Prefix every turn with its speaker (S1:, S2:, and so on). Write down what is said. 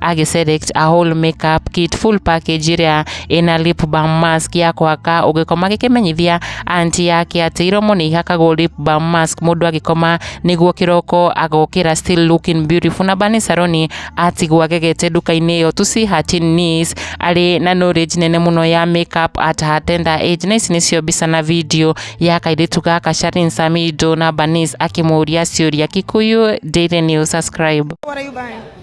S1: ak iselect a whole makeup kit full package iria ina lip balm mask ya kwaka ugikoma gikimenyithia anti yake ati iromo ni ihakagwo lip balm mask mundu agikoma niguo kiroko agokira still looking beautiful na bani saroni atigwo agegete nduka-inĩ ĩyo tusi hatin nis arĩ na knowledge nene mũno ya makeup at her tender age na ici nĩcio mbica na video ya kairĩtu gaka Sharin Samido na Banis akĩmũria ciũria Kikuyu Daily News subscribe What are you buying?